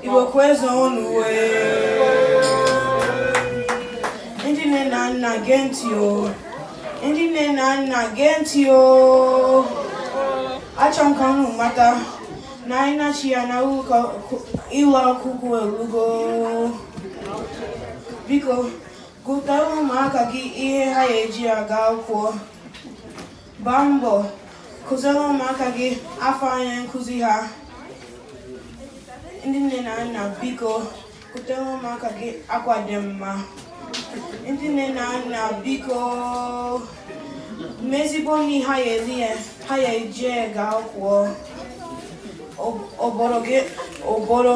Igbo kwezuonu ndị nne na nna gee ntị o ndị nne na nna gee ntị o achọ m ka unu mata na ịnachigha na ụlọ akwụkwọ elugo biko gotara ụmụaka gị ihe ha ga-eji aga akwụkwọ Gbaa mbọ kụziere ụmụaka gị afa onye nkụzi ha. Ndị nne na nna biko gotere ụmụaka gị akwa dị mma. Ndị nne na nna biko mee ezigbo nri ha ya eji aga akwụkwọ. Ọ- Ọbọrọ gị ọbọrọ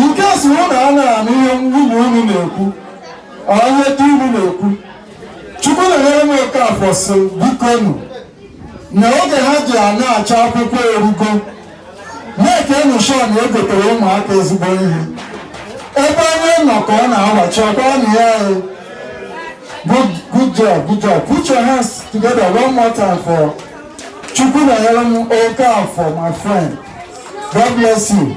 in case unu a na-anụ ihe nwanne unu na-ekwu onye di unu na-ekwu Chukwunonyerem Okafor sị bikonu na oge ha ji anachi akwụkwọ erugo make nụ sure na egotere ụmụaka ezigbo ihe ebe onye nọ ka ọ na-awachi ọkwa na ya good job good job put your hands together one more time for Chukwunonyerem Okafor my friend. God bless you.